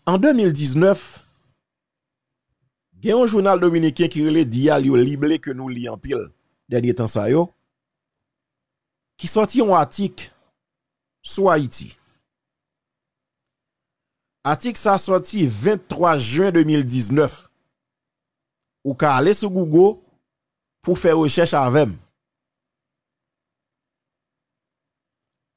An 2019, gen yon jounal dominiken ki rele Diario Lible ke nou li anpil dènye tan sa yo, ki sòti yon atik sou Ayiti. Atik sa sòti 23 jen 2019. Ou ka ale sou Google pou fè rechèch avè m.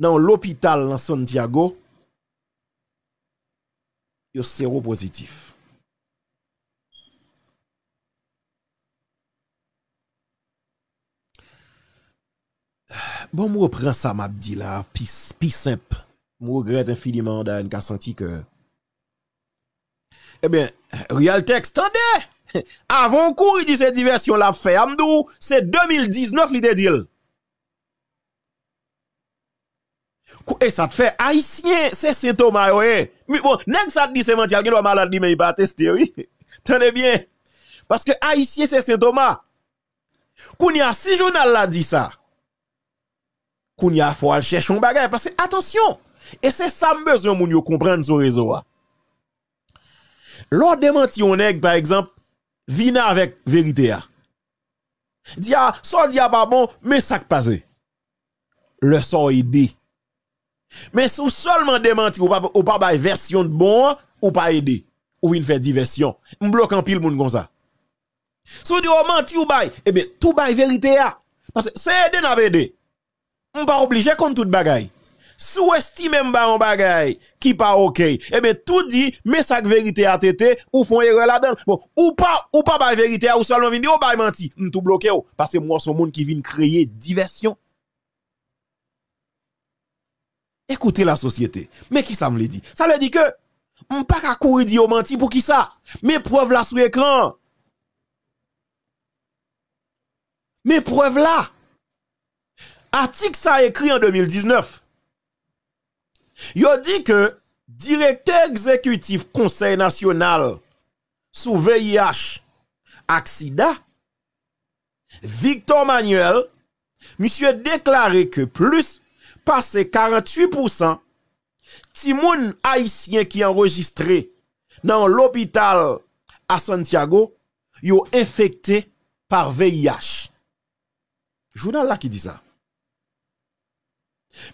nan yon lopital nan Santiago, yo sewo pozitif. Bon m repran sa m ap di la pi senp, m regrèt enfiniman an da NK Santi ke. Ebyen, Rialtex, tande! Avan w kouri di se divèsyon l ap fè a, m di w se 2019 li te di l. Kou e sa t fè ayisyen se sen toma yo ye mi bon nèg sa t di se manti a l gen dwa malad li menm li pa teste wi tande byen paske ayisyen se sen toma kounye a si jounal la di sa kounye a fò al chèche yon bagay paske atansyon e se sa m bezwen moun yo konprann sou rezo a lè w demanti yon nèg pa egzanp vini avèk verite a. Di a, sa w di a pa bon, men sa k pase. Lè sa w ede. Men si w sèlman demanti, ou pa bay vèsyon t bon an, ou pa ede. Ou vin fè divèsyon. M bloke anpil moun konsa. Si w di w manti w bay, e ben tou bay verite a. Pase se ede n ap ede. M pa oblije konn tout bagay. Si w estime m bay yon bagay ki pa ok, ebyen tou di men sa k verite a TT, ou fè yon erè ladan l. Bon, ou pa, ou pa bay verite a, ou sèlman vin di ou bay manti, m tou bloke w, paske m wè w se yon moun ki vin kreye divèsyon. Écoutez la société. Men kisa m vle di? Sa vle di ke m pa ka kouri di yo manti poukisa? Men prèv la sou ekran an. Men prèv la, atik sa ekri an 2019. Yo di ke direktè egzekitif konsèy nasyonal sou VIH ak sida, Victor Manuel, misye deklare ke plis pase 48 pousan timoun ayisyen ki anrejistre nan yon lopital a Santiago, yo enfekte par VIH. Jounal la ki di sa.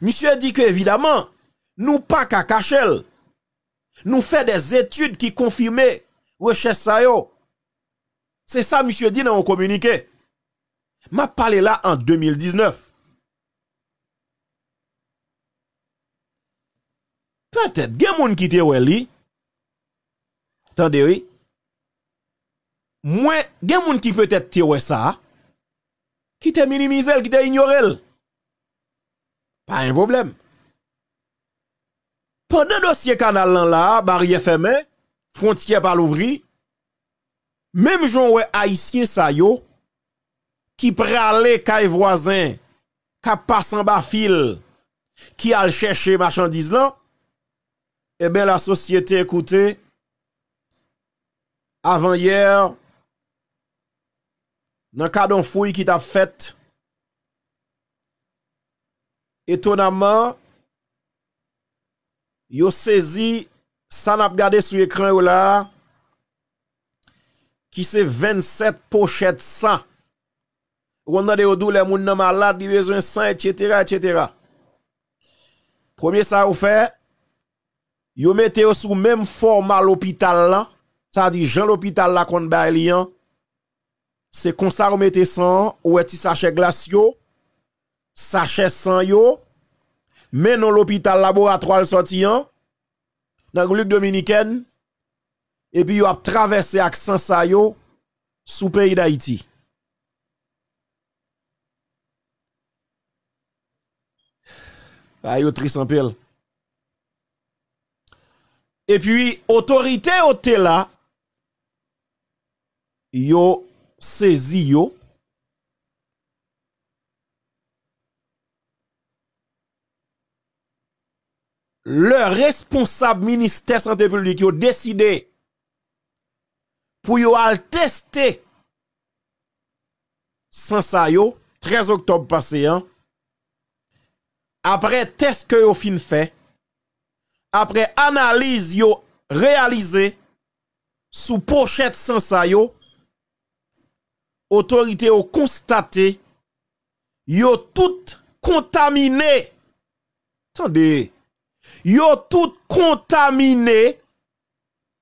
Misye di ke evidaman, nou pa ka kache l. Nou fè dè etid ki konfime rechèch sa yo. Se sa misye di nan yon kominike. M ap pale la an 2019. Petèt gen moun ki te wè li. Tande wi. Mwen gen moun ki petèt te wè sa, ki te minimize l, ki te inyore l. Pa gen pwoblèm. Pandan dosye kanal lan la, baryè fèmen, fwontyè pa louvri, menm jan w wè ayisyen sa yo ki prale kay vwazen, k ap pase anba fil, ki al chèche machandiz lan, Eben la sosyete koute avan yè nan kad yon fouy ki tap fèt etonamman yo sezi sa nap gade sou ekran yo la ki se 27 pochèt san ou konn tande yo di w lè moun nan malad li bezwen san etc etc. Premye sa yo fè, yo mete yo sou menm fòma lopital la, sa di jan lopital la konn bay li an, se konsa yo mete san an, ou wè ti sachè glas yo, sachè san yo, men non lopital laboratwa l sòti an, nan Repiblik Dominikèn, epi yo ap travèse ak san sa yo sou peyi Dayiti. Bagay yo tris anpil. E pi otorite yo te la, yo sezi yo. Le responsab ministè sante publik yo deside pou yo al teste san sa yo 13 oktòb pase an, aprè tès ke yo fin fè, aprè analiz yo reyalize sou pochèt san sa yo, otorite yo konstate yo tout kontamine, tande, yo tout kontamine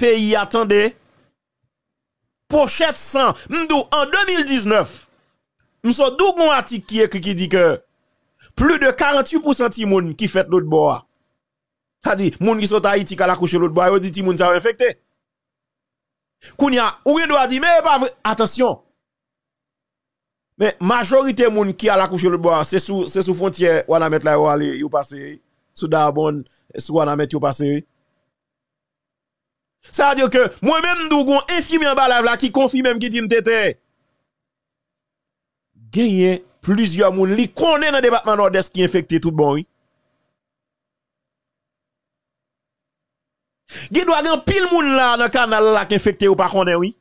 peyi a tande pochet san m di w an 2019 m so di w gon atik ki ekri ki di ke pli de 48 pousan timoun ki fèt lotbò a sa di moun ki sot ayiti k al akouche lotbò a yo di timoun sa yo enfekte kounye a ou gen dwa di men e pa vre atansyon men majorite moun ki al akouche lotbò a se sou fwontyè wanament la yo ale yo pase sou dayabonn sou wanament yo pase Sa vle di ke mwen menm tou gon enfimyè anba live la ki konfimem ki dim te te genyen plizyè moun li konnen nan depatman Nòdès ki enfekte tout bon wi. Gen dwa gen anpil moun la nan kanal la ki enfekte yo pa konnen wi.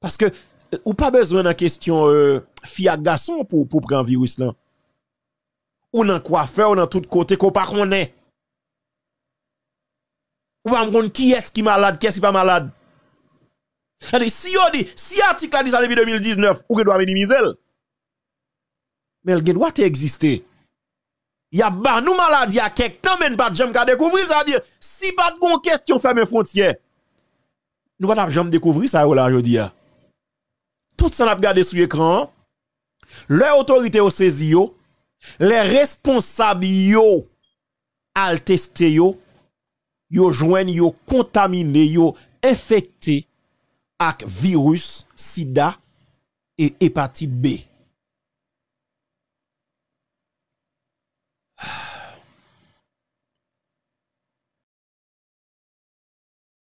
Paske ou pa bezwen nan kestyon fi ak gason pou pran viris lan. Ou nan kwafè ou nan tout kote ke ou pa konnen. Ou pa konn kiyès ki malad, kiyès ki pa malad. Tande, si yo di, si atik la di sa depi 2019, ou gen dwa minimize l. Men l gen dwa te egziste. Y ap ban nou maladi a kèk tan men n pa t janm ka dekouvri l. Sa vle di, si pa t gen yon kesyon fèmen fwontyè, nou pa t ap janm dekouvri sa yo la jodi a. Tout sa n ap gade sou ekran an, lè otorite yo sezi yo, lè responsab yo. al teste yo, yo jwenn yo kontamine, yo enfekte ak viris sida e epatit B.